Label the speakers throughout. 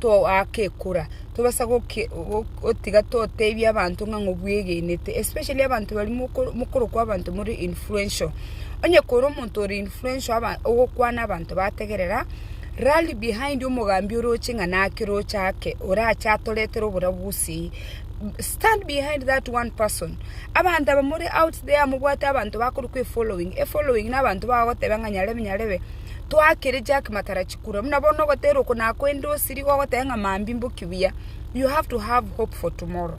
Speaker 1: toagekora tobasa gotiga totebia abanto ng'a ng'obwegenete especially abanto baria mokorokwa abanto more influential. Onye kore omonto ore influential ogokwana abanto bategerera, rally behind omogambi oroche ng'a naki oroche ake orache atoretere oborabu gose eye. Stand behind that one person. Abanto aba more out there mobwate abanto bakorokwa efollowing, efollowing na abanto bagogoteba ng'a nyarebe nyarebe. Twakire Jack Matarachi kura. Buna bono ogotera oko nakoende osiri igo ogoteba ng'a mambia mboki buya. You have to have hope for tomorrow.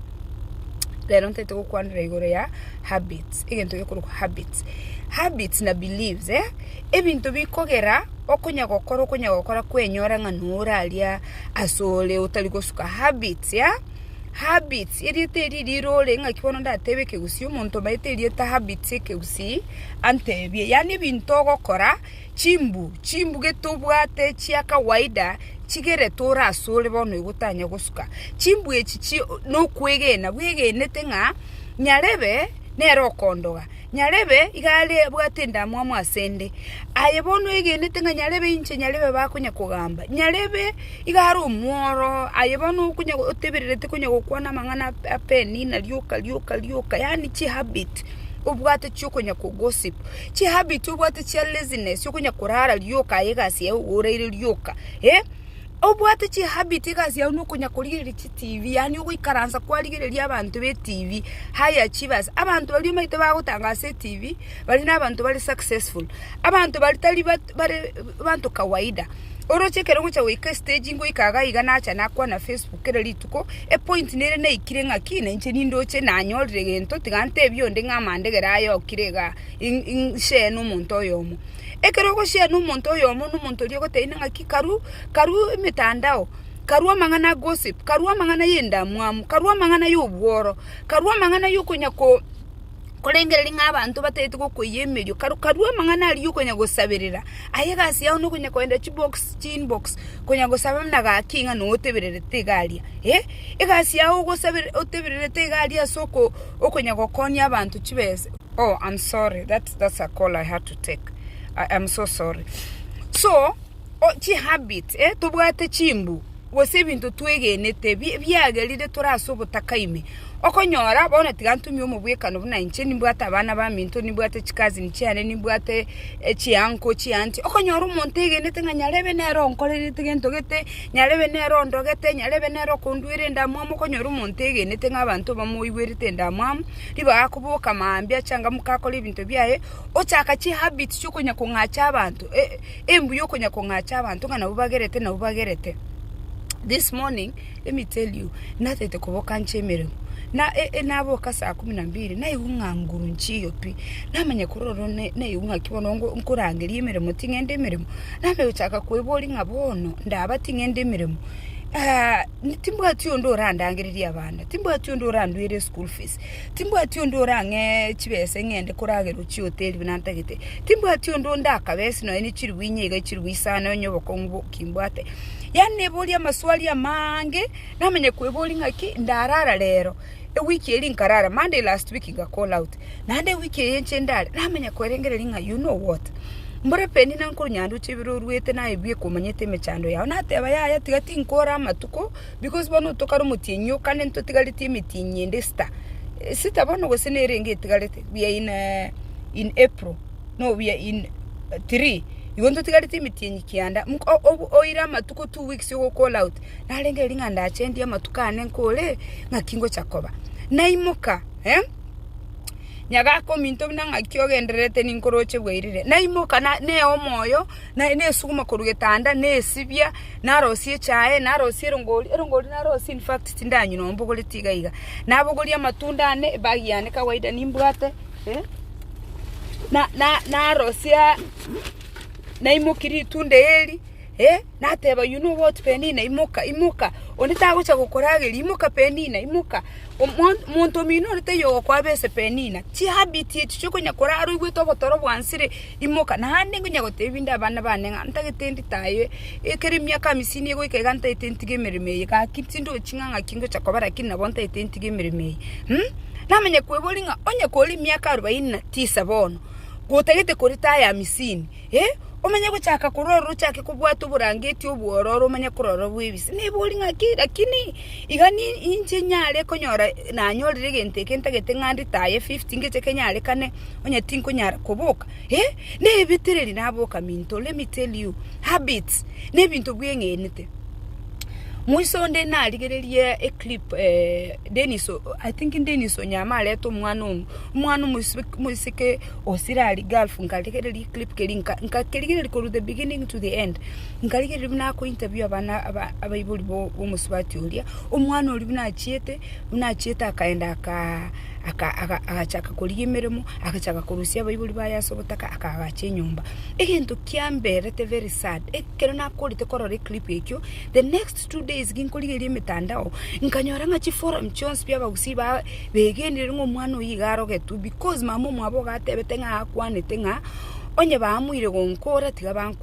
Speaker 1: Rero ntete gokwanera igoro ya habits. Egento gekorokwa habits. Habits na beliefs eh, ebinto bikogera okonya gokora okonya gokora kwenyora ng'a noraria asore otari gosuka habits ya. Habits, erieta eria rirore ng'aki bono ndatebe ekegusii, omonto omanyete erieta habits ekegusii antebie, yaani ebinto ogokora chimbu chimbu gete obwate chia kawaida chigerete ore asore bono igo otanya gosuka, chimbu echi nokwegena bwegenete ng'a nyarebe nere okondoga. Nyarebe iga are abwate endamwamu ase 'nde, aye bono oegenete ng'a nyarebe inche nyarebe bakonya kogamba. Nyarebe iga are omworo, aye bono okonya otebererete konya gokwana amang'ana ap'enina rioka rioka rioka, yaani chihabit obwate chiokonya ko gossip, chihabit obwate chia laziness okonya korara rioka aye egasi yaye oraire rioka, eh, obwate chihabit egasi yago nokonya korigereria chi. TV, yaani ogoikaransa kwarigereria abanto be TV, high achievers. Abanto baria omanyete bagotanga ase eTV, baria nabanto bare successful. Abanto baria tari bat- bare abanto kawaida. Oroche ekero ogocha goika estegi ngoika iga iga nacha nakwana Facebook kera rituko, epoint nere naikire ng'aki, nainche nindoche nanyorire egento, tiga ntebie onde ng'a amandegere aya okire igaa, in- in- share nomonto oyomo. Ekero ogo share nomonto oyomo, nomonto oria ogotebia ng'aki karu karu emetandao. karue amang'ana a gossip, karue amang'ana y'endamwamu, karue amang'ana y'obworo, karue amang'ana y'okonya ko korengereria ng'a abanto batagete gokoiyia emerio, karu karue amang'ana aria y'okonya gosaberera, aye egasi yao nokonya kogenda chibox chiinbox konya gosaba buna gaki ng'a noyo otebererete iga aria eh, egasi yao ogosabere otebererete iga aria as'oko okonya gokonia abanto chibesa oh am sorry that's that's a call I had to take, I am so sorry so. chihabit, tobwate chimbu, gose ebinto twegenete biagerire tore ase obotaka ime. Okonyora bono tiga ntumie omobwekano buna inche nimbwate abana baminto, nimbwate chicousin chiane, nimbwate chiuncle chianche, okonyora omonto egenete ng'a nyarebe nere onkorerete gento gete, nyarebe nere ondogete, nyarebe nere okondwere endamwamu, okonyora omonto egenete ng'a abanto bamoigwerete endamwamu, ribaga akoboka mambia changamka akore ebinto biaye, ochaka chihabit chia okonya kong'acha abanto. Embuya okonya kong'acha abanto ng'a nabo bagerete nabo bagerete. This morning let me tell you natete koboka nche emeremo na e, e, naboka saa kumi na mbili naigwa ng'a nguru nchiyo pi namanya kororo ne- naigwa ng'a ki bono ngo- nkorangeria emeremo ting'ende emeremo namanya gochaka kwebori ng'a bono ndaba ting'ende emeremo Ah, timbwati onde orandangereria abana timbwati onde orandwere eschool fees Timbwati onde orang'e chibesa eng'ende koragerwa chihoteli buna ntagete. Timbwati onde onde akabe ase nonya ne chilifu inye iga chilifu isano onye obokong'u boki mbwate. Yaani neboria amaswali amaange, namanya kweboria ng'aki ndarara rero, ewiki eria nkarara, Monday last week nga call out, naende ewiki eye inche ndare, namanya koerengereria ng'a you know what? Mbore Penny nankore nyanduche ebiro oruete naye ebieka omanyete emechando yao. Nateba yaya tiga tinkore amatuko, Because bono otokare omotienyi oo, kande ntotigaretie emetienyi ende esita, esita bono gose nere enge etigarete, we are in in April, no we are in three, igo ntotigaretie emetienyi kianda mk o oire amatuko two weeks igo call out, narenge erio ng'a ndache ndie amatuko ane nkore ng'aki ngocha koba. Naimoka eh, nyaga akominto buna ng'aki ogendererete ninkoroche bwairire, naimoka na neo omoyo. Naye nesuguma korwa getanda, nesibia, narosia echae, narosia erongori, erongori narosie in fact tindanywa noo mbogoreti iga iga. Nabogoria amatunda ane, ebag yane kawaida nimbwate, eh, na na narosia naimoki ritunda eri, eh, nateba you know what Penina imoka imoka, onde tagocha gokorageria, imoka Penina imoka, omo monto omino ore taiyo ogokoa bese Penina, chihabit echi chiokonya korara oigwete ogotoro bwansire. Imoka, naende nkonya goteebia inde abana baane ng'a ntagete nditaywe, ekero emiaka amisini egoika iga ntagete ntige emeremo eye. Gaki tindochi ng'a ng'aki ngocha koba lakini nabo ntagete ntige emeremo eye. Namanya kweboria ng'a onye kore emiaka arobaini na tisa bono, gotagete koritaya amisini, eh, omanye gochaka korwa ororo ochake kobwata oborangeti obwororo omanye korora bwebise. Neboria ng'aki lakini. Iga ninche nyare konyora nanyorire egento eke ntagete ng'a nditaye fifty ngeche kenyarekane, onye tinkonyara koboka, eh, nebetereri naboka minto, let me tell you, habits, nebinto bweng'enete. Mwiso onde narigererie eclip Dennis o, I think Dennis Onyama arete omwana ong'u, omwana omosike osire aria gulf nkarigereria eclip keria, nkakerigereria korwa the beginning to the end, Nkarigereria buna akointerview abana abaibori b'omosubati oria, omwana oria buna achiete, buna achiete akaenda agachaka korigia emeremo, agachaka korusia abaibori baye ase ogotaka, akagacha enyomba. Egento kiamberete very sad, ekero nakorete korora eclip ekio, the next two days ginkorigereria emetandao, nkanyora ng'a chiforum chionsi bia abagusii ba begenire ng'a omwana oyio iga arogetwe because mama omwabo iga atebete ng'a akwanete ng'a onye bamoire gonkora tiga bankora.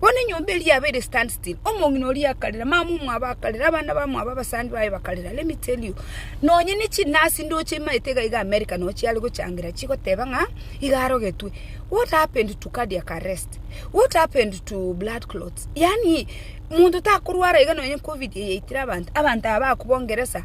Speaker 1: Bono enyomba eria yabeire standstill, omong'ina oria akarera, mama omwabo akarera, abana bamwabo abasani baye bakarera. Let me tell you, nonye ne chinasi ndoche imaete iga iga America nonya chiare gochangera chigoteba ng'a iga arogetwe. What happened to cardiac arrest? What happened to blood clots? Yaani monto takorwara iga nonye covid eye yaitire abanto, abanto aba bakobua ngeresa.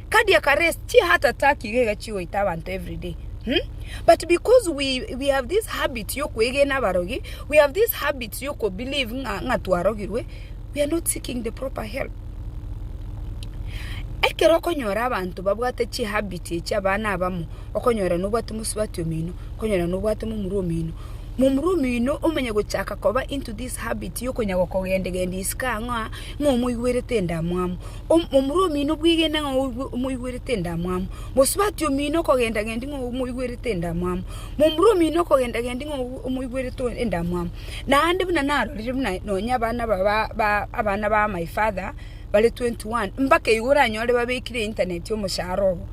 Speaker 1: Ka dia ka race chi heart attack iga iga chigoita abanto everyday hmm? But because we, we have this habit yokwegena abarogi, we have this habit yokobelieve ng'a ng'a twarogirwe, we are not seeking the proper help. Ekero okonyora abanto babwate chihabit echi abana abamo, okonyora nobwate mosubati omino, okonyora nobwate momura omino, momura omino omanye gochaka koba into this habit yokonya gokogendagendia isiko ang'oa ng'a omoigwerete endamwamu. Omomura omino bwegene ng'a omoigwerete endamwamu, mosubati omino okogendagendia ng'a omoigwerete endamwamu, momura omino okogendagendia ng'a omoigwerete endamwamu. Naende buna narorire buna nonya abana aba ba ba abana ba my father bare twenty one, mbaka igo oranyore babekire internet omosharo obo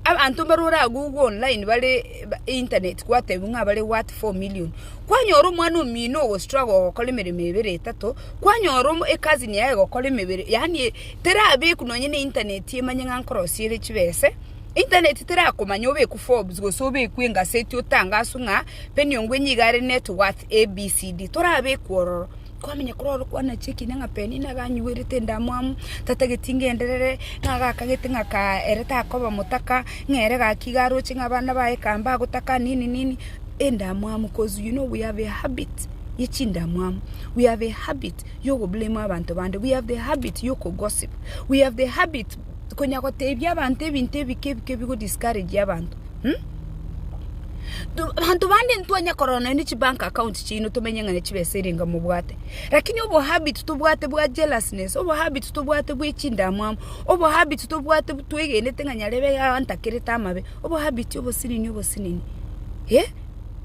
Speaker 1: abanto mbare oragugwe online bare internet gwatebiwa ng'a bare worth four million. Kwanyora omwana omino ogo struggle gokora emeremo ebere etato. Kwanyora omo ekazini yaye egokora emebere, yaani terabekwa nonye ne internet emanye ng'a nkorosia ere chibese, internet terakomanya obekwe Forbes gose obekwe engaseti otangaswe ng'a penny ongwe niga are net worth ABCD, torabekwa ororo. Kwamenya kore oro kwanachia ekina ng'a penny niga anyuerete endamwamu, tatageti ngenderere, ng'a gaka gete ng'a kaa ere takoba motaka, ng'a ere gaki iga aroche ng'a abana baye kaa mbagotaka nini nini, endamwamu 'cause you know we have a habit. ye chindamwamu, we have a habit yogoblame abanto bande, we have the habit yokogossip, we have the habit konya gotebia abanto ebinto ebike ebike ebigo discourage abanto um. Abanto bande ntitwanya korora nonya ne chibank account chiaino tomenye ng'a ne chibesa erenge mobwate, lakini obohabit tobwate bwa jealousness, obohabit tobwate bwe chindamwamu, obohabit tobwate twegenete ng'a nyarebe abantakerete amabe, obohabit obosinini obosinini eh.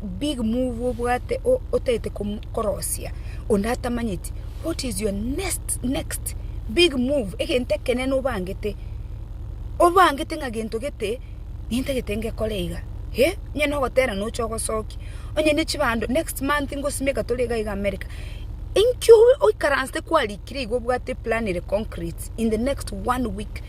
Speaker 1: Big move obwate otagete korosia onde atamanyeti what is your next next big move egento ekenene obangete obangete ng'a gento gete nintagete ngekore iga eh onye nogotera noche ogosoki onye ne chibando next month ngosimia iga tore iga iga America inkio oikaransete kwarikire igo obwate plan ere concrete in the next one week.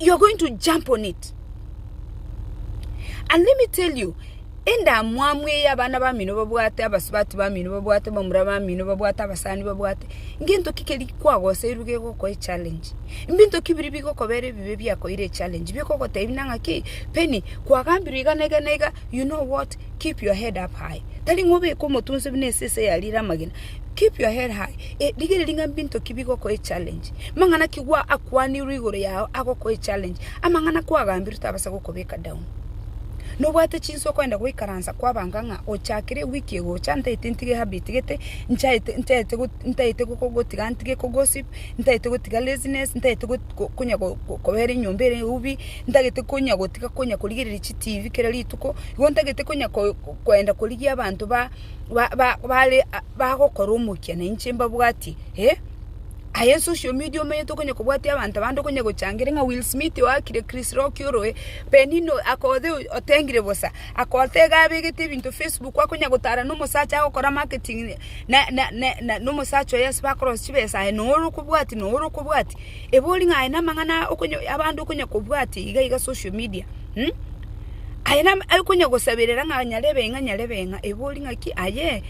Speaker 1: you're going to jump on it and let me tell you endamwamu eye abana bamino babwate abasubati bamino babwate bamura bamino babwate abasani babwate ngento ki keri kwagoserwe gegokoa echallenge mbinto ki biri bigokobera ebibe biakoire echallenge bikogotebi buna ng'a ki Penny kwagambirwe iga na iga na iga you know what keep your head up high tari ng'a obeke omote onsi buna esese yarire amagena Keep your head high. Eh, rigereria ng'a mbinto ki bigokoa echallenge. Mang'ana ki gwa akwanirwe igoro yao agokoa echallenge. Amang'ana kwagambirwe tabasa gokobeka down. Nobwate chinsa okoenda goikaransa kwabanga ng'a ochakire ewiki egocha ntaete ntige ehabit gete, nchaete ntaete go ntaete go gotiga ntige ko gossip, ntaete gotiga laziness, ntaete go go konya go go kobera enyomba ere eubi, ntagete konya gotiga konya korigereria chitibi kera rituko, igo ntagete konya ko koenda korigia abanto ba. bare bagokora omokia na inche mbabwatie eh. Aye social media omanyete okonya kobwatia abanto abande okonya gochangeria ng'a Will Smith oo akire Chris Rock oro eh, Penina oyo akoothe otengire bosa, akoothe iga abegete ebinto Facebook akonya gotara na omosacha agokora marketing na na na na omosacha oye ase bakorosia chibesa aye noe orokobwatia noe orokobwatia. Ebe ori ng'a aye na amang'ana okonya abande okonya kobwatia iga iga social media. Hm? Aye nam- aye konya gosaberera ng'a nyare ebe ng'a nyare ebe ng'a, ebori ng'aki aye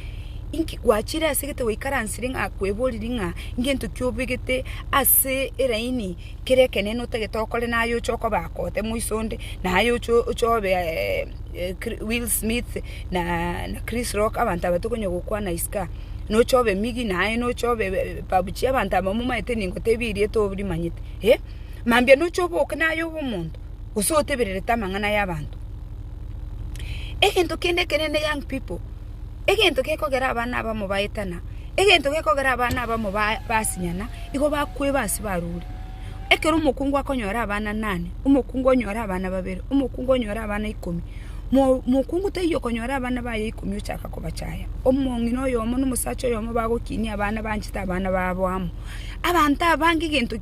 Speaker 1: inki gwachire ase egete gwaikaransire ng'a kweboriri ng'a ngento ki obegete ase eraini kere ekenene otagete okore naye oche okoba akote moiso onde, naye oche oche obe Kri- Will Smith na na Chris Rock abanto aba tokonya gokwana isiko aa, noche obe Miggy naye noche obe Babuchie abanto aba momaete ningo tebia erieta orimanyete eh? Mambia noche oboke naye obe omonto. gose otebererete amang'ana y'abanto. Egento kende ekenene young people, egento gekogera abana abamo baetana, egento gekogera abana abamo basinyana, igo bakoeba ase barure. Ekero omokungu akonyora abana nane, omokungu onyore abana babere, omokungu onyore abana ikomi, mokungu taiyo okonyora abana baye ikomi ochaka kobachaya. Omong'ina oyomo na omosacha oyomo bagokinia abana banchete abana babo amo. Abanto abange egento.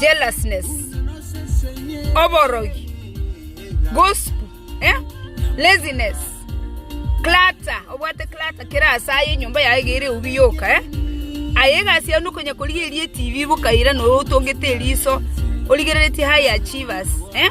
Speaker 1: jealousness, oborogi, gossip, eh? laziness, clutter, obwate clutter kera ase aye enyomba yaye iga ere eubi yoka eh? aye egasi yao nokonya korigereria etv bokaira noro otongete eriso origereretie high achievers eh?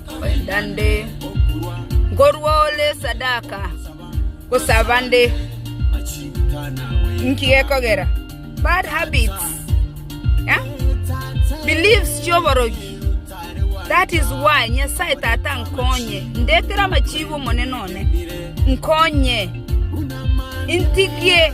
Speaker 1: naende nkorua ore esadaka, gosaba nde. Inki gekogera? Bad habits, beliefs chi'oborogi. That is why Nyasae Tata nkonye, ndetere amachiigo Omonene one, nkonye, intigie.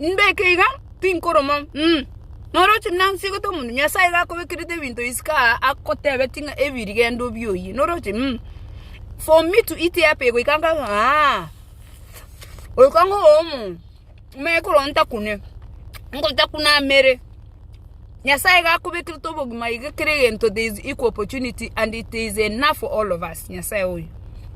Speaker 1: Mbeke iga, tinkoroma, Ing'. Noroche nansegete omonto, Nyasaye iga akobekerete ebinto isiko aa, agotebeti ng'a ebi rigendo bi oyie, noroche, Ing'. For me to eat up igo iga nkabe, Aa, goika ng'o oyomo me korwa ntakune, nkotakuna amere. Nyasaye iga akobekerete obogima iga kera egento there is equal opportunity and it is enough for all of us, Nyasaye oyo.